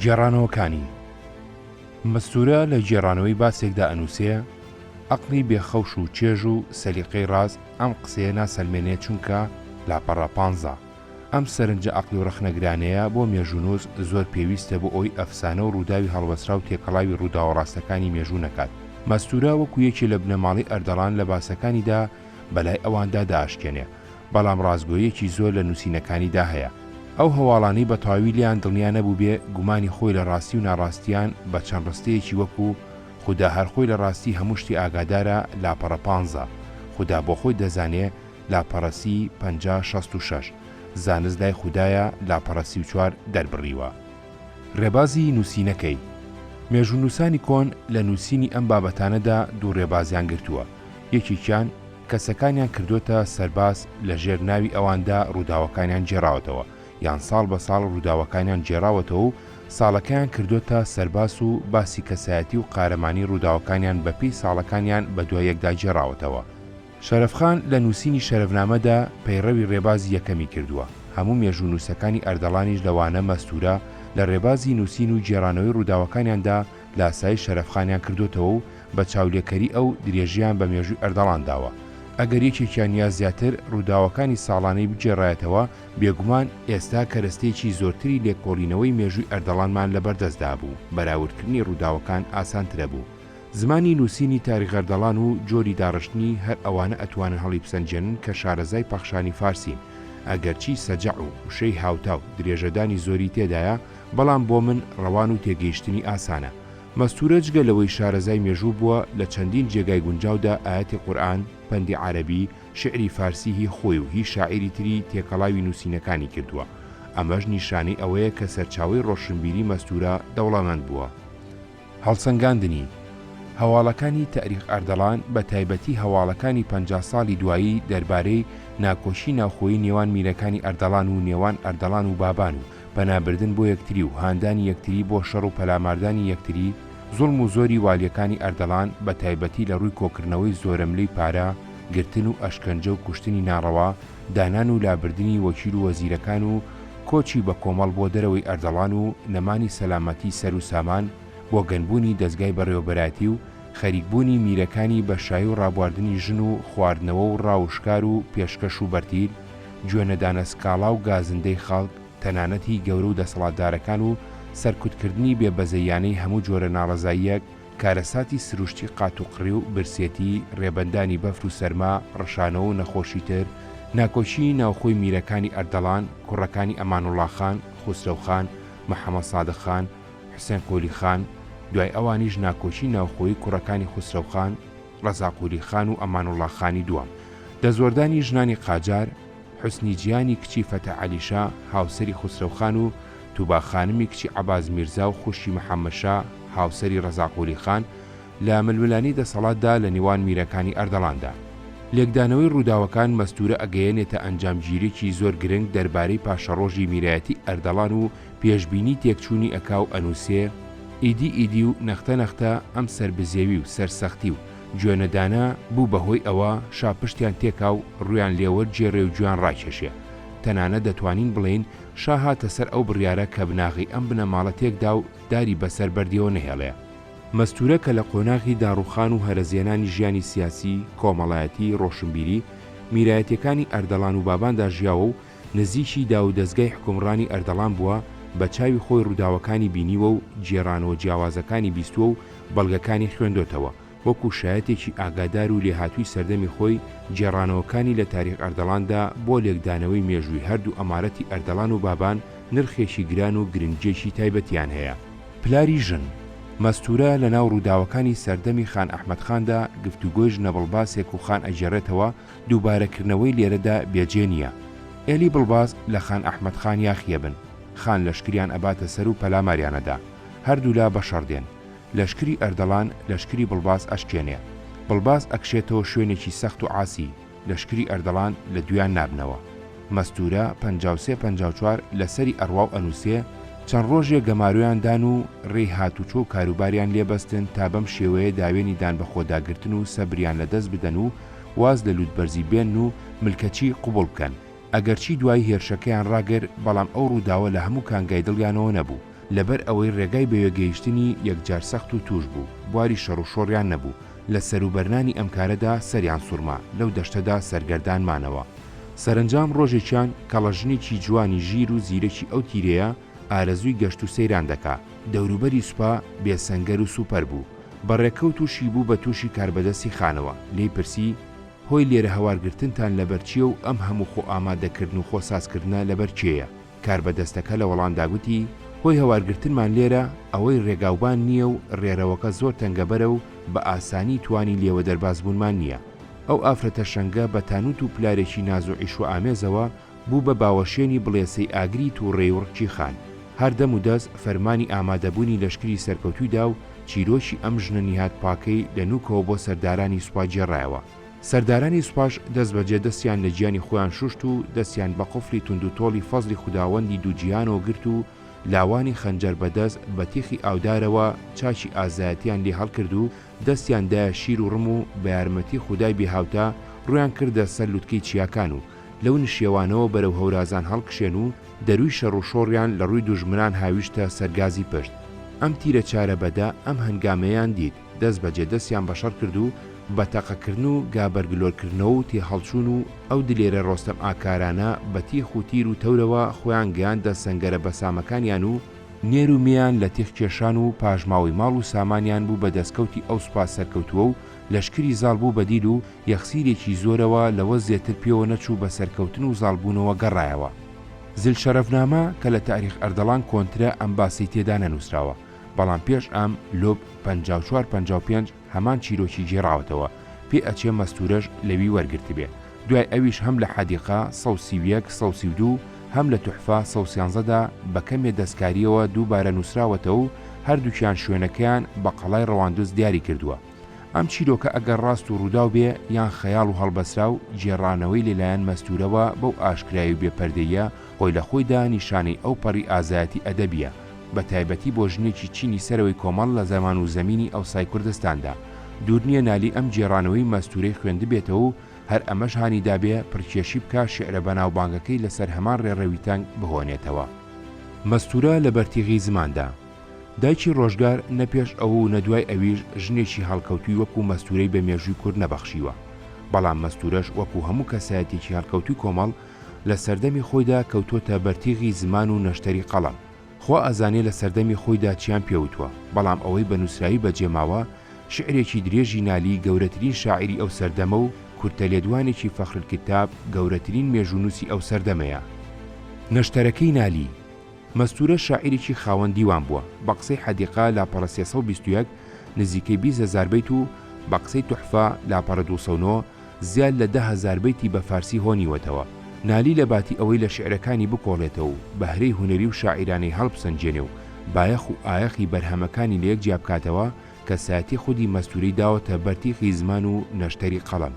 گێڕانەوەکانی، مەستوورە لە گێڕانەوەی باسێکدا ئەنووسێ، عەقڵی بێ خەوش و چێژ و سەلیقەی ڕاست ئەم قسەیە ناسەلمێنێ چونکە، لاپەڕە پانزە، ئەم سەرنجە عەقڵی و ڕەخنەگرانەیە بۆ مێژوونووس زۆر پێویستە بۆ ئەوەی ئەفسانە و ڕووداوی هەڵبەستراو تێکەڵاوی ڕووداوە ڕاستەکانی مێژوو نەکات. مەستوورە وەکوو یەکێ لە بنەماڵەی ئەردەڵان لە باسەکانیدا، بەلای ئەواندا دەئاشکێنێ، بەڵام ڕاستگۆییەکی زۆر لە نووسینەکانیدا هەیە. ئەو هەواڵانەی بەتەواوی لێیان دڵنیا نەبووبێ، گومانی خۆی لە ڕاستی و ناڕاستییان بە چەند ڕستەیەکی وەکوو، خودا هەر خۆی لە ڕاستی هەموو شتێ ئاگادارە، لاپەڕە پانزە، خودا بۆ خۆی دەزانێ، لاپەڕە سی، پەنجا، شەست و شەش، زانست لای خودایە، لاپەڕە سی و چوار، دەربڕیوە. ڕێبازی نووسینەکەی، مێژوونووسانی کۆن لە نووسینی ئەم بابەتانەدا دوو ڕێبازیان گرتووە، یەکێکیان کەسەکانیان کردۆتە سەرباز لە ژێر ناوی ئەواندا ڕووداوەکانیان گێڕاوەتەوە یان ساڵ بە ساڵ ڕووداوەکانیان گێڕاوەتەوە و ساڵەکەیان کردۆتە سەرباس و باسی کەسایەتی و قارەمانی ڕووداوەکانیان بە پێی ساڵەکانیان بە دوای یەکدا گێڕاوەتەوە. شەرەف خان لە نووسینی شەرەفنامەدا پەیڕەوی ڕێبازی یەکەمی کردووە، هەموو مێژوونووسەکانی ئەردەڵانیش لەوانە مەستوورە لە ڕێبازی نووسین و گێڕانەوەی ڕووداوەکانیاندا لاسایی شەرەفخانیان کردۆتەوە و بە چاولێکەری ئەو، درێژەیان بە مێژووی ئەردەڵان داوە. ئەگەر یەکێکیان یا زیاتر رووداوەکانی ساڵانەی بگێڕایەتەوە، بێگومان، ئێستا کەرەستەیەکی زۆرتری لێکۆڵینەوەی مێژووی ئەردەڵانمان لە بەردەست دابوو، بەراوردکردنی رووداوەکان ئاسانترەبوو. زمانی نووسینی تاریخەردەڵان و جۆری داڕشتنی، هەر ئەوانە ئەتوانن هەڵیبسەنگێنن کە شارەزای پەخشانی فارسین، ئەگەرچی سەجع و وشەی هاوتا و درێژەدانی زۆری تێدایە، بەڵام بۆ من ڕەوان و تێگەیشتنی ئاسانە. مەستوورە جگە لەوەی شارەزای مێژوو بووە، لە چەندین جێگای گونجاودا ئایەتی قورئان، پەندی عارەبی، شیعری فارسی هی خۆی و هی شاعیری تری تێکەڵاوی نووسینەکانی کردووە. ئەمەش نیشانەی ئەوەیە کە سەرچاوەی ڕۆشنبیری مەستوورە دەوڵەمەند بووە. هەڵسەنگاندنی، هەواڵەکانی تاریق ئەردەڵان، بە تایبەتی هەواڵەکانی پەنجا ساڵی دوایی دەربارەی ناکۆکی ناوخۆیی نێوان میرەکانی ئەردەڵان و نێوان ئەردەڵان و بابان و پەنابردن بۆ یەکتری و هاندانی یەکتری بۆ شەڕ و پەلاماردانی یەکتری، زوڵم و زۆری والیەکانی ئەردەڵان بە تایبەتی لە ڕووی کۆکردنەوەی زۆرەملێی پارە، گرتن و ئەشکەنجە و کوشتنی ناڕەوا، دانان و لابردنی وەکیل و وەزیرەکان و کۆچی بە کۆمەڵ بۆ دەرەوەی ئەردەڵان و نەمانی سەلامەتی سەر و سامان بۆ گەنبوونی دەزگای بەڕێوەبەرایەتی و خەریک بوونی میرەکانی بە شایی و ڕابواردنی ژن و خواردنەوە و ڕاو و شکار و پێشکەش و بەرتیل گوێ نەدانە سکاڵا و گازندەی خەڵک، تەنانەت هی گەورە و دەسەڵاتدارەکان و سەرکوتکردنی بێ بەزەییانەی هەموو جۆرە ناڕەزاییەک، کارەساتی سروشتی قاتوقڕی و برسێتی، رێبەندانی بەفر و سەرما، رشانەوە و نەخۆشی تر، ناکۆکیی ناوخۆی میرەکانی ئەردەڵان، کوڕەکانی ئەمانوڵڵا خان، خوسرەو خان، محەمەد سادق خان، حوسێن قولی خان، دوای ئەوانیش ناکۆکیی ناوخۆیی کوڕەکانی خوسرەو خان، ڕەزا قولی خان و ئەمانوڵا خانی دووەم، دەستوەردانی ژنانی قاجار، حوسنی جیانی کچی فەتح عەلی شا، هاوسەری خوسرەو خان و توبا خانمی کچی عەباس میرزا و خوشکی محەممەد شا، هاوسەری ڕەزا قولی خان، لە ململانێی دەسەڵاتدا لە نێوان میرەکانی ئەردەڵاندا. لێکدانەوەی ڕووداوەکان مەستوورە ئەگەیەنێتە ئەنجامگیرییەکی زۆر گرنگ دەربارەی پاشەڕۆژی میرایەتی ئەردەڵان و پێشبینی تێکچوونی ئەکاو ئەنووسێ، ئیدی ئیدی و نەختە نەختە ئەم سەربزێوی و سەرسەختی و گوێ نەدانە بوو بە هۆی ئەوە شا پشتیان تێکا و ڕوویان لێ وەرگێڕێ و گوێیان ڕاکێشێ. تەنانەت دەتوانین بڵێین شا هاتە سەر ئەو بڕیارە کە بناغەی ئەم بنەماڵە تێک دا و داری بە سەر بەردیەوە نەهێڵێ. مەستوورە کە لە قۆناغی داڕووخان و هەرەزێنانی ژیانی سیاسی، کۆمەڵایەتی، ڕۆشنبیری، میرایەتییەکانی ئەردەڵان و بابان دا ژیاوە و نزیکی داوودەزگای حوکمڕانی ئەردەڵان بووە، بە چاوی خۆی ڕووداوەکانی بینیوە و گێڕانەوە جیاوازەکانی بیستووە و بەڵگەکانی خوێندۆتەوە، وەکو شایەتێکی ئاگادار و لێهاتووی سەردەمی خۆی گێڕانەوەکانی لە تاریخ ئەردەڵاندا بۆ لێکدانەوەی مێژووی هەردوو ئەمارەتی ئەردەڵان و بابان نرخێکی گران و گرنگیەکی تایبەتیان هەیە. پلاری ژن، مەستوورە لەناو ڕووداوەکانی سەردەمی خان ئەحمەد خاندا گفتوگۆی ژنەبڵباسێک و خان ئەگێڕێتەوە، دووبارە کردنەوەی لێرەدا بێجێ نیە. ئێلی بڵباز لە خان ئەحمەد خان یاخیە بن خان لەشکریان ئەباتە سەر و پەلاماریان ئەدا. هەردوولا بە شەڕ دێن. لەشکری ئەردەڵان لەشکری بڵباز ئەشکێنێ. بڵباز ئەکشێتەوە شوێنێکی سەخت و عاسی. لەشکری ئەردەڵان لە دویان نابنەوە. مەستوورە، پەنجا و سێ پەنجا و چوار، لە سەری ئەڕوا و ئەنووسێ، چەند ڕۆژێ گەمارۆیان دان و رێی هاتووچۆ و کاروباریان لێ بەستن تا بەم شێوەیە داوێنی دان بەخۆداگرتن و سەبریان لە دەست بدەن و واز لە لوتبەرزی بێنن و ملکەچی قبوڵ بکەن، ئەگەرچی دوایی هێرشەکەیان ڕاگر بەڵام ئەو ڕووداوە لە هەموو کانگای دڵیانەوە نەبوو، لەبەر ئەوەی ڕێگای بەوێ گەیشتنی یەکجار سەخت و تووش بوو، بواری شەڕ و شۆڕیان نەبوو، لە سەروبەرنانی ئەم کارەدا سەریان سوڕما، لەو دەشتەدا سەرگەردان مانەوە. سەرەنجام ڕۆژێکیان کەڵە ژنێکی جوانی ژیر و زیرەکی ئەو تیرەیە ئارەزووی گەشت و سەیران دەکا، دەوروبەری سوپا بێ سەنگەر و سووپەر بوو، بە ڕێکەو تووشی بوو بە تووشی کاربەدەستی خانەوە، لێی پرسی، هۆی لێرە هەوار گرتنتان لەبەر چییە و ئەم هەموو خۆ ئامادە کردن و خۆ ساز کردنە لەبەر کێیە؟ کاربەدەستەکە لە وەڵامدا گوتی، هۆی هەوار گرتنمان لێرە ئەوەی ڕێگاوبان نییە و ڕێرەوەکە زۆر تەنگەبەرە و بە ئاسانی توانی لێوە دەرباز بوونمان نییە. ئەو ئافرەتە شەنگە بە تانووت و پلارێکی ناز و عیشوە ئامێزەوە بوو بە باوەشێنی بڵێسەی ئاگری تووڕەی وڕکی خان. هەر دەم و دەس فەرمانی ئامادەبوونی لەشکری سەرکەوتووی دا و چیرۆکی ئەم ژنە نیهاد پاکەی لە نووکەوە بۆ سەردارانی سوپا گێڕایەوە. سەردارانی سوپاش دەس بە جێ دەسیان لە گیانی خۆیان شووشت و دەسیان بە قفڵی توندوتۆڵی فەزڵی خوداوەندی دوو جیهانەوە گرت و لاوانی خەنجەر بە دەس بە تیخی ئاودارەوە چاکی ئازایەتیان لێ هەڵکرد و دەستیان دایە شیر و ڕم و بە یارمەتی خودای بێ هاوتا ڕوویان کردە سەر لوتکەی چیاکان و لەو نشێوانەوە بەرەو هەورازان هەڵکشێن و دەرووی شەڕ و شۆڕیان لە ڕووی دوژمنان هاویشتە سەر گازی پشت. ئەم تیرە چارە بەدە ئەم هەنگامەیان دیت، دەست بەجێ دەستیان بە شەڕ کرد و بە تەقە کردن و گا بەرگلۆر کردنەوە و تێهەڵچوون و ئەو دلێرە ڕۆستەم ئاکارانە بە تیخ و تیر و تەورەوە خۆیان گەیاندە سەنگەرە بەسامەکانیان و نێر و مێیان لە تیغ کێشان و پاژماوەی ماڵ و سامانیان بوو بە دەسکەوتی ئەو سوپا سەرکەوتووە و لەشکری زاڵ بوو بە دیل و یەخسیرێکی زۆرەوە لەوە زێتر پێوە نەچوو بە سەرکەوتن و زاڵ بوونەوە گەڕایەوە زل شەرەفنامە کە لە تاریخ ئەردەڵان کۆنترە ئەم باسەی تێدا نەنووسراوە بەڵام پێش ئەم لۆ پەنجا و چوار پەنجا و پێنج هەمان چیرۆکی گێڕاوەتەوە پێ ئەچێ مەستورەش لەوی وەرگرتبێ دوای ئەویش هەم لە حەدیقە سەد و سی و یەک سەد و سی و دوو هەم لە تحفە سەد و سیانزە دا بە کەمێ دەستکاریەوە دووبارە نوسراوەتەوەو هەردوکیان شوێنەکەیان بە قەڵای ڕەواندز دیاری کردوە ئەم چیرۆکە ئەگەر ڕاست و ڕوداو بێ یان خەیاڵ و هەڵبەسراو گێڕانەوەی لە لایەن مەستورەوە بەو ئاشکرای و بێ پەردەییە خۆی لە خۆیدا نیشانەی ئەو پەڕی ئازایەتی ئەدەبیە، بە تایبەتی بۆ ژنێکی چینی سەرەوەی کۆمەڵ لە زەمان و زەمینی ئەوسای کوردستاندا. دوور نیە نالی ئەم گێڕانەوەی مەستوورەی خوێندبێتەوە و هەر ئەمەش هانی دابێ پڕکێشی بکا شیعرە بەناوبانگەکەی لە سەر هەمان ڕێڕەوی تەنگ بهۆنێتەوە. مەستوورە لە بەرتیغی زماندا. دایکی ڕۆژگار نە پێش ئەو و نە دوای ئەویش ژنێکی هەڵکەوتووی وەکوو مەستوورەی بە مێژووی کورد نەبەخشیوە. بەڵام مەستوورەش وەکوو هەموو کەسایەتیەکی هەڵکەوتووی کۆمەڵ لە سەردەمی خۆیدا کەوتۆتە بەرتیغی زمان و نەشتەری قەڵەم. خوا ئەزانێ لە سەردەمی خۆیدا چیان پێ وتوە، بەڵام ئەوەی بە نووسراوی بە جێ ماوە، شیعرێکی درێژی نالی گەورەترین شاعیری ئەو سەردەمە و کورتە لێدوانێکی فەخرالکتاب گەورەترین مێژوونووسی ئەو سەردەمەیە. نەشتەرەکەی نالی مەستوورە شاعیرێکی خاوەن دیوان بووە، بە قسەی حەدیقە لاپەڕە سێ سەد و بیست و یەک نزیکەی بیست هەزار بەیت و بە قسەی تحفە لاپەڕە دوو سەد و نۆ، زیاد لە دە هەزار بەیتی بە فارسی هۆنیوەتەوە، نالی لە باتی ئەوەی لە شیعرەکانی بکۆڵێتەوە و بەهرەی هونەری و شاعیرانەی هەڵبسەنگێنێ و بایەخ و ئایەخی بەرهەمەکانی لە یەک جیابکاتەوە، کەسایەتی خودی مەستوورەی داوەتە بەر تیخی زمان و نەشتەری قەڵەم.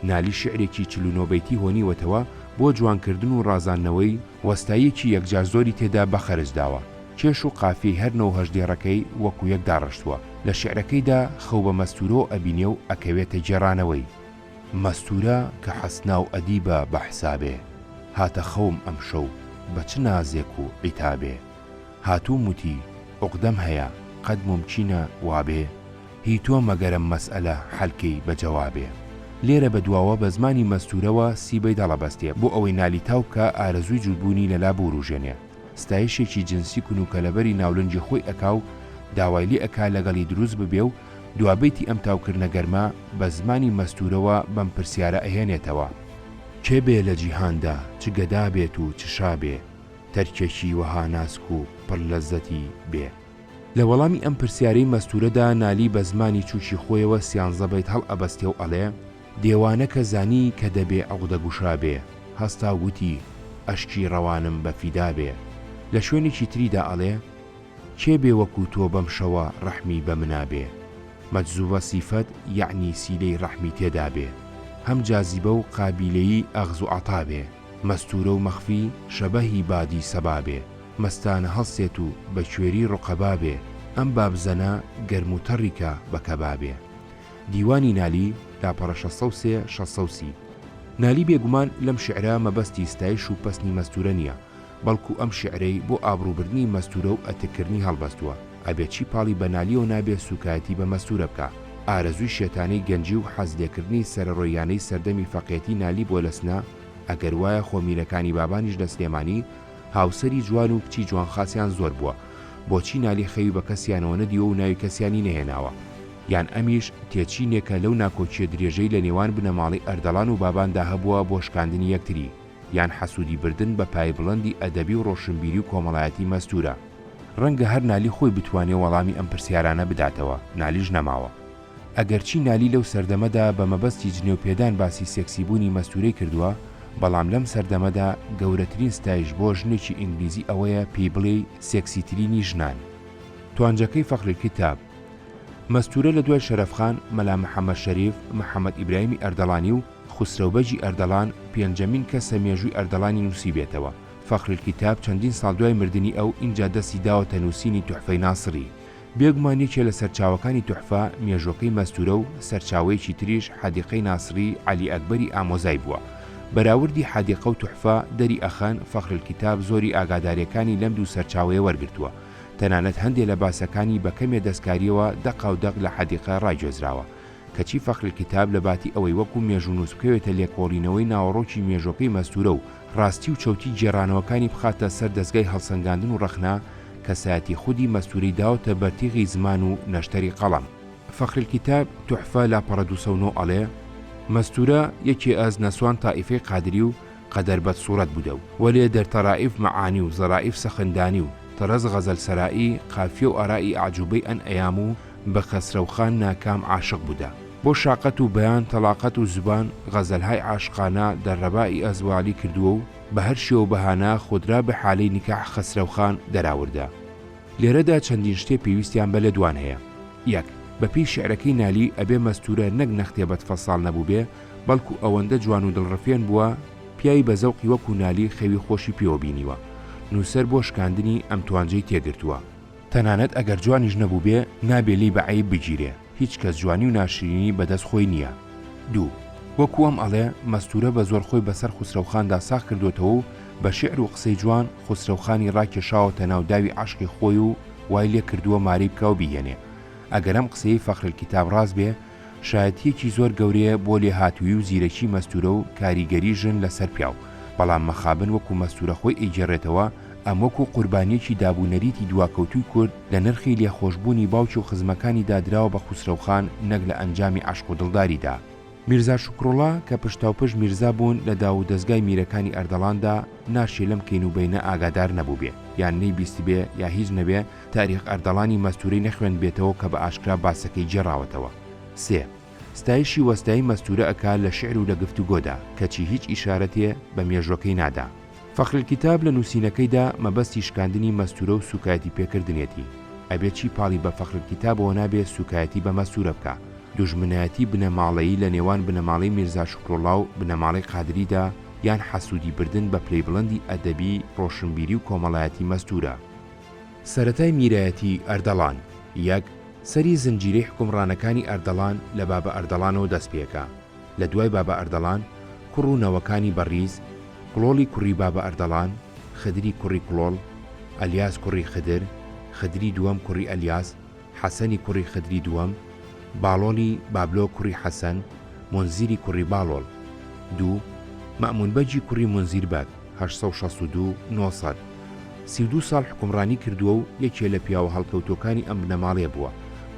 نالی شیعرێکی چل و نۆ بەیتی هۆنیوەتەوە بۆ جوانکردن و ڕازاندنەوەی، وەستاییەکی یەکجار زۆری تێدا بە خەرج داوە، کێش و قافیەی هەر نۆ و هەشت دێڕەکەی وەکو یەک داڕشتووە، لە شیعرەکەیدا خەو بە مەستوورەوە ئەبینێ و ئەکەوێتە گێڕانەوەی. مەستوورە کە حەسنا و ئەدیبە بە حسابێ، هاتە خەوم ئەمشەو بە چ نازێک و عیتابێ. هاتووم وتی، عوقدەم هەیە، قەت مومکینە وابێ؟ هی تۆ مەگەرەم مەسئەلە حەلکەی بە جەوابێ. لێرە بە دواوە بە زمانی مەستوورەوە سی بەیداڵ ئەبەستێ، بۆ ئەوەی نالی تاو بکا، ئارەزووی جووتبوونی لەلا بوورووژێنێ. ستایشێکی جنسی کون و کەلەبەری ناولەنجی خۆی ئەکا و داوای لێ ئەکا لەگەڵی دروست ببێ و دوا بەیتی ئەم تاوکردنە گەرمە بە زمانی مەستوورەوە بەم پرسیارە ئەهێنێتەوە، کێ بێ لە جیهاندا چ گەدا بێت و چ شا بێ، تەرکێکی وەها ناسک و پڕ لەززەتی بێ؟ لە وەڵامی ئەم پرسیارەی مەستوورەدا نالی بە زمانی چووکی خۆیەوە سیانزە بەیت هەڵئەبەستێ و ئەڵێ. دێوانە کە زانی کە دەبێ عوقدە گوشا بێ، هەستا و گوتی، ئەشکی ڕەوانم بە فیدا بێ. لە شوێنێکی تریدا ئەڵێ، کێ بێ وەکوو تۆ بەم شەوە ڕەحمی بە منا بێ. مەجزووە سیفەت یەعنی سیلەی ڕەحمی تێدا بێ. هەم جازیبە و قابیلەی ئەخز و عەتا بێ. مەستوورە و مەخفی شەبەهی بادی سەبا بێ. مەستانە هەڵسێت و بە کوێری ڕوقەبا بێ. ئەم بابزەنە گەرم و تەڕی کە بە کەبا بێ. دیوانی نالی، لاپەڕە شەست سەد و سێ، شەست سەد و سی. نالی بێگومان لەم شیعرە مەبەستی ستایش و پەسنی مەستوورە نییە، بەڵکوو ئەم شیعرەی بۆ ئابڕووبردنی مەستوورە و ئەتککردنی هەڵبەستووە، ئەبێ چی پاڵی بە نالییەوە نابێ سووکایەتی بە مەستوورە بکا. ئارەزووی شێتانەی گەنجی و حەز لێکردنی سەرەڕۆییانەی سەردەمی فەقێتی نالی بۆ لەسنە، ئەگەر وایە خۆ میرەکانی بابانیش لە سلێمانی، هاوسەری جوان و کچی جوانخاسیان زۆر بووە بۆچی نالی خەوی بە کەسیانەوە نەدیوە و ناوی کەسیانی نەهێناوە یان ئەمیش تێچینێکە لەو ناکۆکیە درێژەی لە نێوان بنەماڵەی ئەردەڵان و باباندا هەبووە بۆ شکاندنی یەکتری یان حەسودی بردن بە پایەی بڵندی ئەدەبی و ڕۆشنبیری و کۆمەڵایەتی مەستورە. ڕەنگە هەر نالی خۆی بتوانێ وەڵامی ئەم پرسیارانە بداتەوە نالیش نەماوە ئەگەرچی نالی لەو سەردەمەدا بە مەبەستی جنێو پێدان باسی سێکسی بوونی مەستوورەی کردووە، بەڵام لەم سەردەمەدا گەورەترین ستایش بۆ ژنێکی ئینگلیزی ئەوەیە پێی بڵێی سێکسیترینی ژنان. توانجەکەی فەخری کتاب. مەستوورە لە دوای شەرەف خان، مەلا محەمەد شەریف، محەمەد ئیبراهیمی ئەردەڵانی و خوسرەو بەگی ئەردەڵان پێنجەمین کەسە مێژووی ئەردەڵانی نووسیبێتەوە. فەخری کتاب چەندین ساڵ دوای مردنی ئەو ئینجا دەستی داوەتە نووسینی توحفەی ناسڕی. بێگومان یەکێ لە سەرچاوەکانی تحفە مێژووەکەی مەستوورە و سەرچاوەیەکی تریش حدیقەی ناصری علی اکبری ئامۆزای بووە. بەراوردی حدیقە و تحفە دەری ئەخەن فخر الکتاب زۆری ئاگاداریەکانی لەم دوو سەرچاوەیە وەرگرتووە. تەنانەت هەندێ لە باسەکانی بە کەمێ دەستکاریەوە دەقاو دەق لە حدیقە راگوێزراوە. کەچی فخر الکتاب لە باتی ئەوەی وەکو مێژوونووس بکەوێتە لێکۆڵینەوەی ناوەڕۆکی مێژووەکەی مەستوورە و ڕاستی و چەوتی گێڕانەوەکانی بخاتە سەر دەزگای هەڵسەنگاندن و ڕەخنە، کەسایەتی خودی مەستووری داوەتە بەر تیغی زمان و نەشتەری قەڵەم. فخر الکتاب تحفە لاپەڕە دوو سەد و نۆ ئەڵێ، مەستوورە یەکێ ئەز نەسوان تائیفەی قادری و قەدەر بەد سووڕەت بوودە و وەلێ دەر تەرائیف مەعانی و زەرائیف سەخن دانی و تەرەز غەزەل سەرائی قافیە و ئارائی ئەعجووبەی ئەن ئەیام و بە خەسرەو خان ناکام عاشق بودا. بۆ شاقەت و بەیان تەڵاقەت و زوبان غەزەلهای عاشقانە دە رەبا ی ئەزوالی کردوە و بە هەر شێوە بەهانە خۆدرا بە حالەی نیکاح خەسرەو خان دەراوردە. لێرەدا چەندین شتێ پێویستیان بە لێدوان هەیە. یەک، بە پێی شیعرەکەی نالی ئەبێ مەستورە نەک نەختێ بەد فەساڵ نەبوبێ بەڵکو ئەوەندە جوان و دڵڕفێن بوە پیاوی بە زەوقی وەکو نالی خەوی خۆشی پێوە بینیوە. نوسەر بۆ شکاندنی ئەم توانجەی تێگرتوە. تەنانەت ئەگەر جوانیش نەبووبێ نابێ لێی بە عەیب بگیرێ، هیچ کەس جوانی و ناشرینی بە دەست خۆی نییە. دوو، وەکوو ئەم ئەڵێ، مەستوورە بە زۆر خۆی بەسەر خوسرەوخاندا ساغ کردۆتەوە و بە شیعر و قسەی جوان خوسرەوخانی ڕاکێشاوەتە ناو داوی عەشقی خۆی و وای لێ کردووە مارەی بکا و بیهێنێ. ئەگەر ئەم قسەیەی فەخرەلکیتاب ڕاست بێ، شایەتییەکی زۆر گەورەیە بۆ لێهاتوویی و زیرەکی مەستوورە و کاریگەری ژن لە سەر پیاو، بەڵام مەخابن وەکوو مەستوورە خۆی ئەیگێڕێتەوە، ئەم وەکوو قوربانییەکی داب و نەریتی دواکەوتووی کورد لە نرخی لێخۆشبوونی باوکی و خزمەکانیدا دراوە بە خوسرەو خان نەک لە ئەنجامی عەشق و دڵداریدا. میرزا شوکروڵا کە پشتاوپشت میرزا بوون لە داو و دەزگای میرەکانی ئەردەڵاندا، ناشێ لەم کەین و بەینە ئاگادار نەبووبێ، یان نەیبیستبێ یا هیچ نەبێ، تاریق ئەردەڵانی مەستوورەی نەخوێندبێتەوە کە بە ئاشکرا باسەکەی گێڕاوەتەوە. سێ. ستایشی وەستای مەستوورە ئەکا لە شیعر و لە گفتوگۆدا، کەچی هیچ ئیشارەتێ بە مێژووەکەی نادا. فخر الکتاب لە نووسینەکەیدا مەبەستی شکاندنی مەستوورە و سووکایەتی پێکردنیەتی. ئەبێ چی پاڵی بە فخر الکتابەوە نابێ سووکایەتی بە مەستوورە بکا. دوژمنایەتی بنەماڵەیی لە نێوان بنەماڵەی میرزا شوکروڵڵا و بنەماڵەی قادریدا یان حەسوودی بردن بە پلەی بڵندی ئەدەبی، ڕۆشنبیری و کۆمەڵایەتی مەستوورە. سەرەتای میرایەتیی ئەردەڵان، یەک، سەری زنجیرەی حوکمڕانەکانی ئەردەڵان لە بابە ئەردەڵانەوە دەست پێکا. لە دوای بابە ئەردەڵان، کوڕ و نەوەکانی بەڕیز، کڵۆڵی کوڕی بابە ئەردەڵان، خدری کوڕی کڵۆڵ، ئەلیاس کوڕی خدر، خدری دووەم کوڕی ئەلیاس، حەسەنی کوڕی خدری دووەم، باڵۆڵی بابلۆ کوڕی حەسەن، مونزیری کوڕی باڵۆڵ. دوو، مەئموون بەگی کوڕی مونزیر بەگ، هەشت سەد و شەست و دوو، نۆ سەد. سی و دوو ساڵ حوکمڕانی کردووە و یەکێ لە پیاوە هەڵکەوتووەکانی ئەم بنەماڵەیە بووە،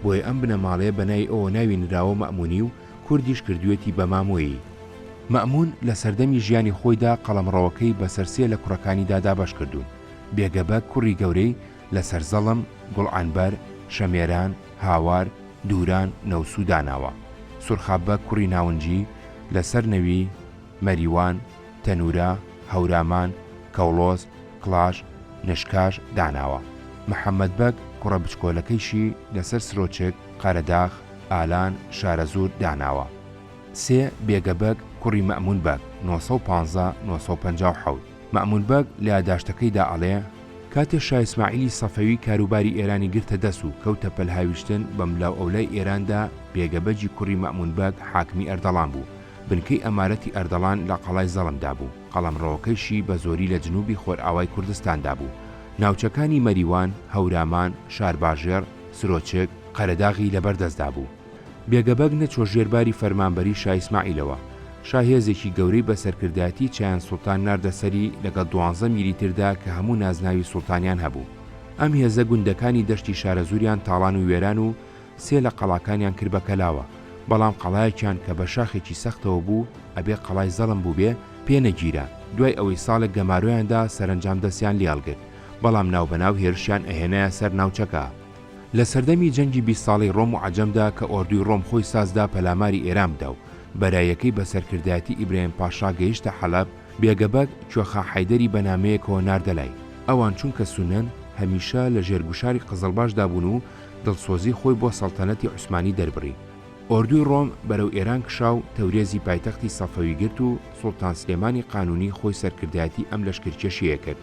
بۆیە ئەم بنەماڵەیە بە ناوی ئەوە ناوی نراوە مەئموونی و کوردیش کردوویەتی بە مامۆیی. مەئموون لە سەردەمی ژیانی خۆیدا قەڵەمڕەوەکەی بەسەر سێ لە کوڕەکانیدا دابەش کردوون، بێگە بەگ کوڕی گەورەی، لە سەرزەڵم، گوڵعەنبەر، شەمێران، هاوار، دووران، نەوسوو داناوە. سورخاببە کوڕی ناونجی، لە سەرنەوی، مەریوان، تەنوورە، هەورامان، کەوڵۆز، کڵاش، نشکاش داناوە. محەممەد بەگ کوڕە بچکۆلەکەیشی لە سەر سرۆچک، قەرەداخ، ئالان، شارەزوور داناوە. سێ، بێگە بەگ کوڕی مەئموون بەگ، نۆ سەد و پازدە، نۆ سەد و پەنجا و حەوت. مەئمون بەگ لە یاداشتەکەیدا ئەڵێ، کاتێ شا ئیسماعیلی سەفەوی کاروباری ئێرانی گرتە دەس و کەوتە پەل هاویشتن بەملاوئەولای ئێراندا، بێگە بەگی کوڕی مەئمون بەگ حاکمی ئەردەڵان بوو، بنکەی ئەمارەتی ئەردەڵان لە قەڵای زەڵمدا بوو، قەڵەمڕەوەکەیشی بە زۆری لە جنووبی خۆرئاوای کوردستاندا بوو، ناوچەکانی مەریوان، هەورامان، شارباژێڕ، سرۆچک، قەرەداغی لەبەر دەستدا بوو. بێگەبەگ نەچووە ژێر باری فەرمانبەریی شا ئیسماعیلەوە. شا هێزێکی گەورەی بە سەرکردایەتیی چایان سوڵتان ناردە سەری لەگەڵ دوانزە میری تردا کە هەموو نازناوی سوڵتانیان هەبوو. ئەم هێزە گوندەکانی دەشتی شارەزووریان تاڵان و وێران و سێ لە قەڵاکانیان کرد بە کەلاوە، بەڵام قەڵایەکیان کە بە شاخێکی سەختەوە بوو، ئەبێ قەڵای زەڵم بووبێ، پێ نەگیرا. دوای ئەوەی ساڵێک گەمارۆیان دا، سەرەنجام دەستیان لێ هەڵگرت، بەڵام ناوبەناو هێرشیان ئەهێنایە سەر ناوچەکە. لە سەردەمی جەنگی بیست ساڵەی ڕۆم و عەجەمدا کە ئۆردووی ڕۆم خۆی سازدا پەلاماری ئێران بدا و بەرایەکەی بە سەرکردایەتی ئیبراهیم پاشا گەیشتە حەلەب، بێگە بەگ، کوێخا حەیدەری بە نامەیەکەوە ناردە لای. ئەوان چونکە سوننەن، هەمیشە لە ژێر گوشاری قزڵباشدا بوون و دڵسۆزی خۆی بۆ سەڵتەنەتی عوسمانی دەربڕی. ئۆردووی ڕۆم بەرەو ئێران کشا و تەورێزی پایتەختی سەفەوی گرت و سوڵتان سلێمانی قانوونی خۆی سەرکردایەتی ئەم لەشکرکێشیەیە کرد.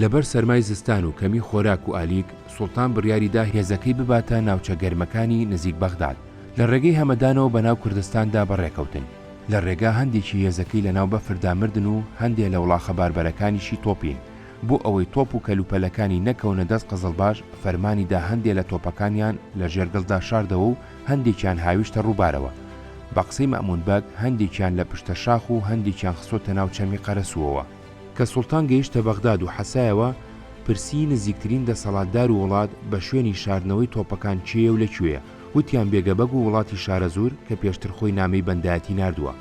لەبەر سەرمای زستان و کەمی خۆراک و ئالیک، سوڵتان بڕیاری دا هێزەکەی بباتە ناوچە گەرمەکانی نزیک بەغداد. لە ڕێگەی هەمەدانەوە بە ناو کوردستاندا بەڕێکەوتن. لە ڕێگا هەندێکی هێزەکەی لە ناو بەفردا مردن و هەندێ لە وڵاخە باربەرەکانیشی تۆپین. بۆ ئەوەی تۆپ و کەلوپەلەکانی نەکەونە دەست قزڵباش، فەرمانی دا هەندێ لە تۆپەکانیان لە ژێر گڵدا شاردەوە و هەندێکیان هاویشتە ڕووبارەوە. بە قسەی مەئموون بەگ، هەندێکیان لە پشتە شاخ و هەندێکیان خستۆتە ناو چەمی قەرەسووەوە. کە سوڵتان گەیشتە بەغداد و حەسایەوە، پرسی نزیکترین دەسەڵاتدار و وڵات بە شوێنی شاردنەوەی تۆپەکان کێیە و لە کوێیە؟ وتیان بێگەبەگ و وڵاتی شارەزوور کە پێشتر خۆی نامەی بەندایەتی ناردووە.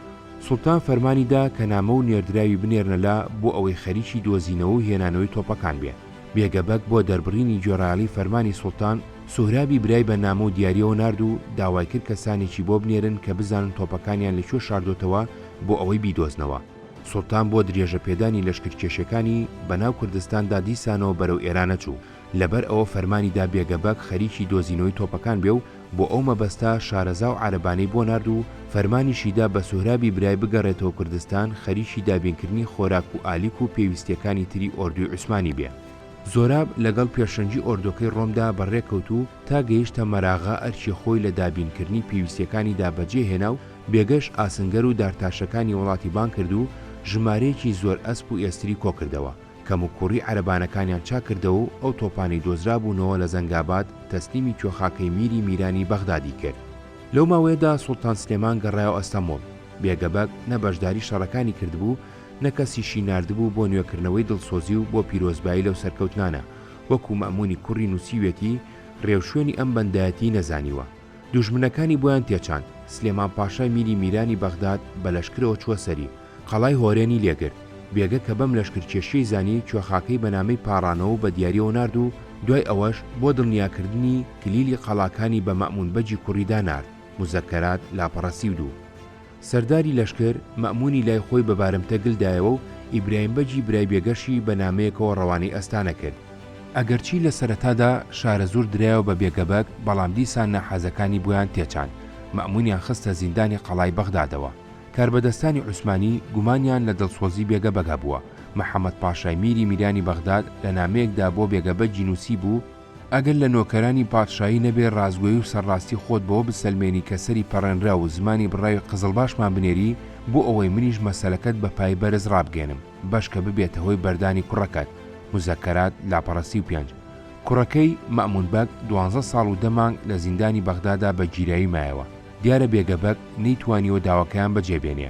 سوڵتان فەرمانی دا کە نامە و نێردراوی بنێرنە لا بۆ ئەوەی خەریکی دۆزینەوە و هێنانەوەی تۆپەکان بێ. بێگەبەگ بۆ دەربڕینی گوێڕایەڵی فەرمانی سوڵتان، سوهرابی برای بە نامە و دیارییەوە نارد و داوای کرد کەسانێکی بۆ بنێرن کە بزانن تۆپەکانیان لە کوێ شاردۆتەوە بۆ ئەوەی بیدۆزنەوە. سوڵتان بۆ دریێژەپێدانی لەشکرکێشیەکانی بەناو کوردستاندا دیسانەوە بەرەو ئێرانەچوو، لەبەر ئەوە فەرمانی دا بێگەبەگ خەریکی دۆزینەوەی تۆپەکان بێ و بۆ ئەو مەبەستە شارەزا و عارەبانەی بۆ نارد و فەرمانیشی دا بە سوهرابی برای بگەڕێتەوە کوردستان خەریکی دابینکردنی خۆراک و ئالیک و پێویستیەکانی تری ئۆردوی عوسمانی بێ. زۆراب لەگەڵ پێشەنگی ئۆردۆکەی ڕۆمدا بەڕێکەوت و تا گەیشتە مەراغە ئەرکی خۆی لە دابینکردنی پێویستیەکانی دا بەجێ هێنا و، بێگەش ئاسنگەر و دارتاشەکانی وڵاتی بانگ کرد و ژمارەیەکی زۆر ئەسپ و ئێستری کۆ کردەوە، کەموکووڕی عەرەبانەکانیان چاک کردەوە و ئەو تۆپانەی دۆزرابوونەوە لە زەنگاباد تەسلیمی کوێخاکەی میری میرانی بەغدادی کرد. لەو ماوەیەدا سوڵتان سلێمان گەڕایەوە ئەستەموڵ، بێگەبەگ نە بەشداری شەڕەکانی کردبوو، نە کەسیشی ناردبوو بۆ نوێکردنەوەی دڵسۆزی و بۆ پیرۆزبایی لەو سەرکەوتنانە، وەکوو مەئموونی کوڕی نووسیویەتی، ڕێوشوێنی ئەم بەندایەتیی نەزانیوە. دوژمنەکانی بۆیان تێچاند، سلێمان پاشای میری میرانی بەغداد بە لەشکرەوە چووە سەری، قەڵای هۆرێنی لێ گرت، بێگە کە بەم لەشکرکێشییەی زانی کوێخاکەی بە نامەی پاڕانەوەو بە دیارییەوە نارد و دوای ئەوەش بۆ دڵنیاکردنی کلیلی قەڵاکانی بە مەئموون بەگی کوڕی دا نارد، موزەکەرات، لاپەڕەسی و دوو. سەرداری لەشکر مەئموونی لای خۆی بە بارمتە گل دایەوە و ئیبراهیم بەگی برای بێگەشی بە نامەیەکەوە ڕەوانەی ئەستانە کرد. ئەگەرچی لە سەرەتادا شارەزوور درایەوە بە بێگەبەگ، بەڵام دیسان ناحەزەکانی بۆیان تێچان، مەئموونیان خستە زیندانی قەڵای بەغدادەوە. کاربەدەستانی عوسمانی گومانیان لە دڵسۆزی بێگەبەگ هەبووە، محەمەد پاشای میری میرانی بەغداد لە نامەیەکدا بۆ بێگەبەگی نووسیبوو، ئەگەر لە نۆکەرانی پادشایی نەبێ ڕاستگۆیی و سەرڕاستی خۆت بەوە بسەلمێنی کە سەری پەڕێنراو و زمانی بڕاوی قزڵباشمان بنێری بۆ ئەوەی منیش مەسەلەکەت بە پای بەرز ڕابگەیەنم بەشکە ببێتە هۆی بەردانی کوڕەکەت، مزەکەرات، لاپەڕە سی و پێنج. کوڕەکەی، مەئمون بەگ، دوانزە ساڵ و دە مانگ لە زیندانی بەغدادا بە گیراوی مایەوە. دیارە بێگە بەگ نەیتوانیوە داواکەیان بەجێ بێنێ.